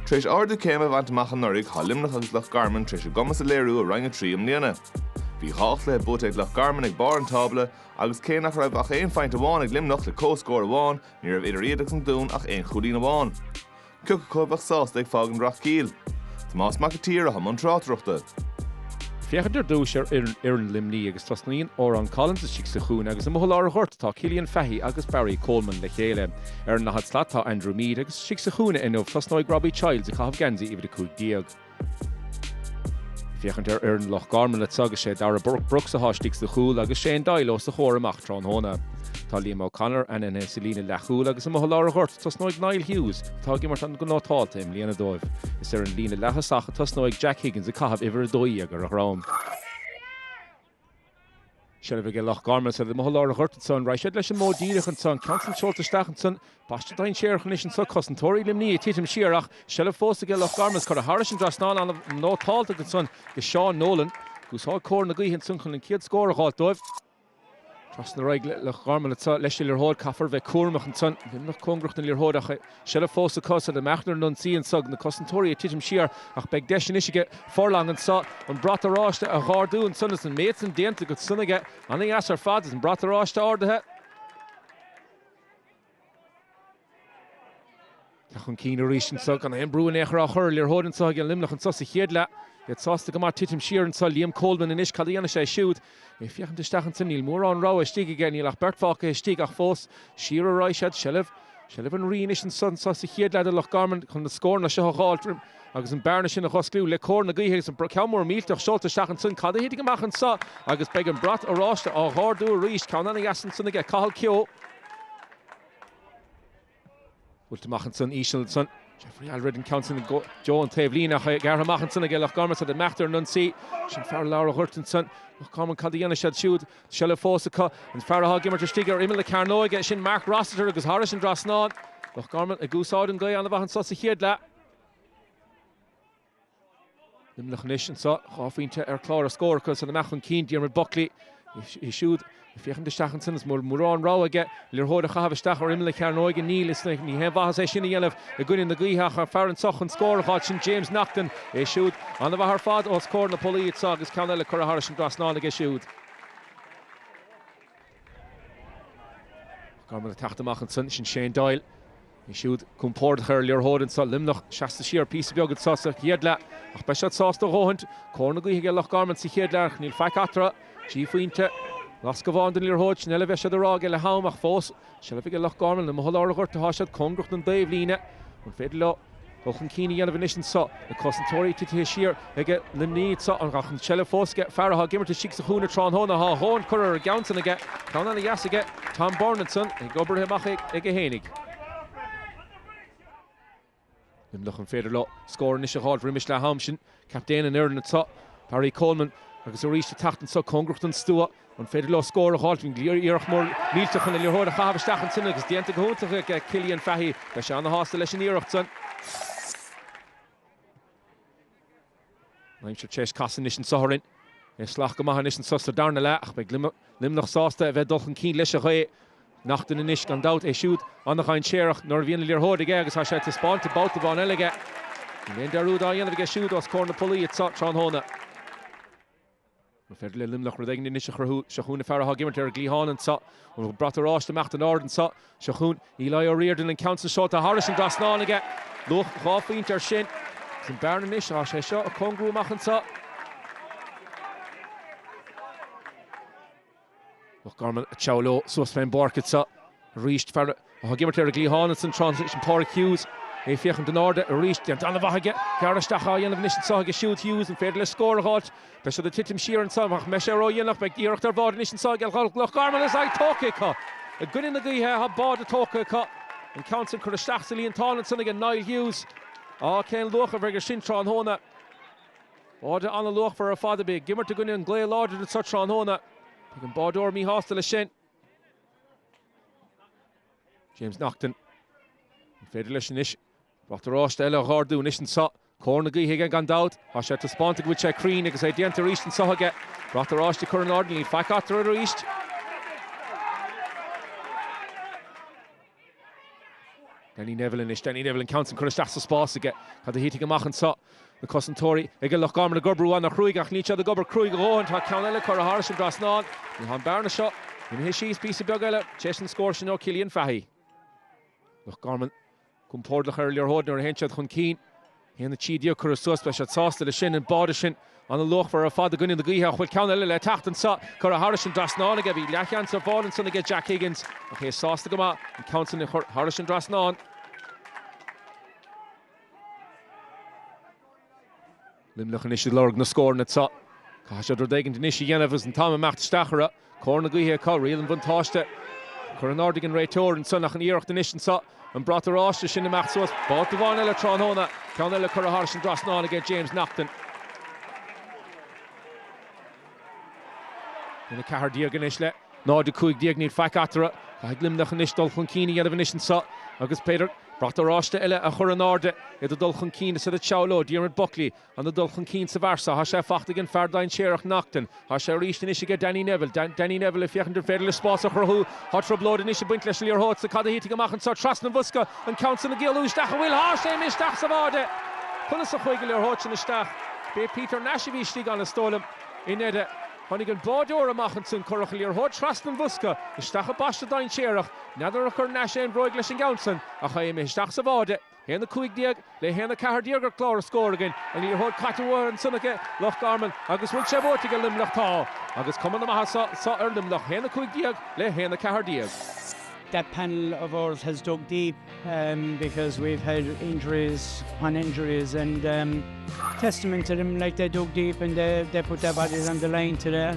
Tar éis ardú céime a bhaint amach anuraidh, tá Luimneach agus Loch Garman tar éis a gcumas a léiriú i Roinn 3 i mbliana. Bhí dhá chluiche buaite ag Loch Garman ag barr an tábla agus cé nach raibh ach aon phointe amháin ag Luimneach le comhscór amháin, ní raibh idir iad agus an Dún ach aon chúilín amháin. Cioca acu a bheadh sásta ag fágaint Rathkeale? Tomás Mac an tSaoir atá i mbun tráchtaireachta. Féachaint ar dtúis ar fhoireann Luimní agus tosnaíonn Oran Collins istigh sa chúinne agus amuigh i lár an ghoirt tá Cillian Fahy agus Barry Coleman le chéile. Ar an daichead slat tá Andrew Meade agus. Istigh sa chúinne inniu tosnóidh Robbie Childs ag caitheamh geansaí uimhir a cúig déag. Ag féachaint ar fhoireann Loch Garman leis agus is é Darragh Brooks atá istigh sa chúl agus Shane Doyle os a chomhair amach tráthnóna. Tá Liam O'Connor ainmnithe sa líne leathchúl agus amuigh i lár an ghoirt tosnóidh Niall Hughes atá ag imirt an go nótálta i mbliana dóibh. Is ar an líne leaththosach a tosnóidh Jack Higgins ag caitheamh uimhir a dó dhéag ar a dhroim. Seilbh aige Loch Garman, seilbh amuigh i lár an ghoirt anso an raghaidh siad leis an modh díreach anso an ceann san seolta isteach ansan pas dainséarach anois anso cosantóirí Luimnigh ag titim siar ach seilbh fós aige Loch Garman is curtha thairis an dtrasnán ana-nótálta ansan aige Seán Nolan agus tá cóir na gaoithe ansan chun an chéad scór a dh'fháilt dóibh. Trasna ar aghaidh Loch Garman anso leis an liathróid caithfear bheith cúramach ansan. Luimneach cóngarach don liathróid ach Seilbh fós acu is iad ag imeacht ar an ionsaí anso agus na cosantóirí ag titim siar ach beidh deis anois aige Furlong anso an brat oráiste a dh'ardú ansan is an méid san déanta go san aige. Ana-dheas ar fad is an brat oráiste ardaithe. Teacht chun cinn arís anso gan aon brú in aon chor á chur ar an liathróid anso ag an Luimneach anso sa chéad leath. Iad sásta go maith titim siar anso. Liam Coleman anois, cad a dhéanfaidh sé siúd? Ag féachaint isteach ansan, níl mórán rogha istigh aige, níl ach beirt fágtha istigh ach fós, siar a raghaidh siad, seilbh, seilbh an rí anois anso, anso sa chéad leath do Loch Garman chun na scóranna seo a dh'fháilt roim agus an bearna sin a dh'oscliú le cóir na gaoithe agus an ceann mór millteach seolta isteach ansan, cad a thitfidh amach anso agus beidh an brat oráiste á dh'ardú arís, ceann ana-dheas ansan aige Cathal Kehoe. Buailte amach ansan íseal ansan. Jeffrey Alfred an ceann sin i dtreo an taobhlíne ach é gearrtha amach ansan aige Loch Garman. Is iad ag imeacht ar an ionsaí sin fear lár an ghoirt ansan. Loch Garman cad a dhéanfaidh siad siúd? Tá seilbh fós acu. An fear atá ag imirt istigh ar imeall na cearnóige, sin Mark Rossiter agus thairis an dtrasnán. Loch Garman ag úsáid an ghaoth ana-mhaith anso sa chéad leath. Luimneach anois anso, dhá phointe ar chlár na scór acu san ag imeacht chun cinn, Diarmaid Buckley é siúd ag féachaint isteach ansan agus mórán rogha aige an liathróid a chaitheamh isteach ar imeall na cearnóige. Níl, is ní haon mhaitheas é sin a dhéanamh i gcoinne na gaoithe ach an fear anso chun scór a dh'fháil sin James Naughton, é siúd ana-mhaith ar fad os comhair na bpolaí anso agus ceann eile curtha thairis an dtrasnán aige siúd. Garman ag teacht amach ansan, sin Shane Doyle. É siúd compordach ar an liathróid anseo Luimneach, seasta siar píosa beag anseo sa chéad leath ach beidh siad sásta a dhóthaint. Cóir na gaoithe aige Loch Garman sa chéad leath ach níl faic eatarthu. Trí phointe, lasc amháin den liathróid, sin uile a bheidh siad ag rá aige leath am ach fós seilbh aige Loch Garman. Amuigh i lár an ghoirt atá siad, cóngarach don taobhlíne. An féidir leo? dul chun cinn a dhéanamh anois anseo. Na cosantóirí titithe siar aige Luimneach anseo ach an tseilbh fós aige. Fear atá ag imirt istigh sa chúinne tráthnóna tá a dhóthain curtha ar an gceann san aige. Ceann ana dheas aige Tom Byrne ansan, agus oibrithe amach aige fhéinig. Luimneach an féidir leo scór anois a dh'fháil roimis leath am sin. Captaen an fhoireann anseo, Barry Coleman, agus arís an tseachtain seo, cóngarach don stua, an féidir leo scór a fháilt? Iarracht mhór millteach chun an liathróid a chaitheamh isteach ansin agus déanta go hiontach ag Cillian Fahy. Beidh sé ana-shásta leis an iarracht sin. An aimsir tar éis casadh anois anseo orainn. É salach go maith anois anseo sa darna leath ach beidh Luimneach sásta a bheith ag dul chun cinn leis an ghaoth. Naughton anois gan dabht, é siúd ana-dhainséarach nuair a bhíonn an liathróid aige agus tá sé taispeáinte babhta amháin eile aige. Níl aon dearúd á dhéanamh aige siúd os comhair na pollaí anseo tráthnóna. An féidir le Luimneach rud éigin anois a chruthú, seo chugainn an fear atá ag imirt ar an gcliathán anseo. An brat oráiste ag imeacht in airde anseo. Seo chugainn Eliah Riordan, an ceann san seolta thairis an trasnán aige. Luach dhá phointe ar sin. Agus an bearna anois, tá sé seo ag cóngarú amach anseo. Loch Garman ag treabhadh leo suas fén bpáirc anseo arís. Fear atá ag imirt ar an gcliathán ansin tráthnóna sin Páraic Hughes. É féachaint in airde arís. Déanta an-mhaith aige. Gearradh isteach á dhéanamh anois anseo aige siúd Hughes. An féidir leis scór a dh'fháilt? Beidh siad ag titim siar anseo ach an mbeidh sé ró-dhéanach? Beidh iarracht ar bháide anois anseo aige Loch Garman agus é tógtha acu. I gcoinne na gaoithe tá báide tógtha acu. An ceann sin curtha isteach sa líontán ansin aige Niall Hughes. Á, cén luach a bheidh ar sin tráthnóna? Báide an-luachmhar ar fad a bheith ag imirt i gcoinne an ghaoth láidir anseo tráthnóna. Féachann an báideoir míshásta leis sin. James Naughton. An féidir leis anois brat oráiste eile a dh'ardú anois anseo. Cóir na gaoithe aige gan dabht. Tá sé taispeánta go bhfuil sé cruinn agus é déanta arís anseo aige. Brat oráiste a chur in airde, níl faic eatarthu arís. Danny Neville anois, Danny Neville an ceann sin curtha isteach sa spás aige. Cad a thitfidh amach anseo? Na cosantóirí aige Loch Garman ag oibriú an-chruaidh ach níl siad ag obair cruaidh a dhóthain. Tá ceann eile curtha thairis an dtrasnán. Tá an bearna seo imithe síos píosa beag eile tar éis an scór sin ó Chillian Fahy. Loch Garman compórdach ar an liathróid nuair a théann siad chun cinn. A haon a trí déag curtha suas beidh siad sásta leis sin, an báide sin, ana-luachmhar ar fad i gcoinne na gaoithe ach bhfuil ceann eile le teacht anseo, curtha thairis an trasnán aige, bhí leathsheans ar bháide ansan aige, Jack Higgins, ach é sásta go maith an ceann sin a chur thairis an trasnán. Luimneach anois ag lorg na scóranna anseo. Caithfidh siad rud éigin anois a dhéanamh agus an t-am ag imeacht isteach orthu. Cóir na gaoithe acu, riail an bhuntáiste curtha in airde ag an réiteoir ansan ach an iarracht anois anseo an brat oráiste sin ag imeacht suas. Babhta amháin eile tráthnóna, ceann eile curtha thairis an dtrasnán aige James Naughton. 1 14 anois le 0 15, níl faic eatarthu. Caithfidh Luimneach anois dul chun cinn a dhéanamh anois anseo agus b'fhéidir brat oráiste eile a chur in airde, iad ag dul chun cinn is iad ag treabhadh leo Diarmaid Buckley Ana dul chun cinn sa bhfear sa, Thá sé fachta ag an fear dainséarach, Naughton. Thá sé aríst anois aige Danny Neville. Danny Neville ag féachaint an féidir leis spás a chruthú. Thá troiblóid anois ag baint leis an liathróid sa, cad a thitfidh amach anso trasna an bhosca, an ceann san ag éalú isteach an bhfuil, thá sé imithe isteach sa bháide! Conas a chuaigh an liathróid sin isteach? B'é Peter Nash a bhí istigh ann is dóigh liom. I ndeire, tháinig an báideoir amach ansoin, cuireadh an liathróid trasna an bhosca, isteach i bpaiste dainséarach. N'fheadar ar chuir Nash aon bhróig leis an gceann san, ach thá sé imithe isteach sa bháide! 1:15 le 1:14 ar chlár an scóir againn, an liathróid caite uathu ansan aige Loch Garman agus an bhfuil sé buaite aige Luimneach Tá agus cuma na maitheasa ar Luimneach 1:15 le 1:14. that panel of ours has dug deep because we've had injuries upon injuries and testament to them like they dug deep and they put their bodies on the line today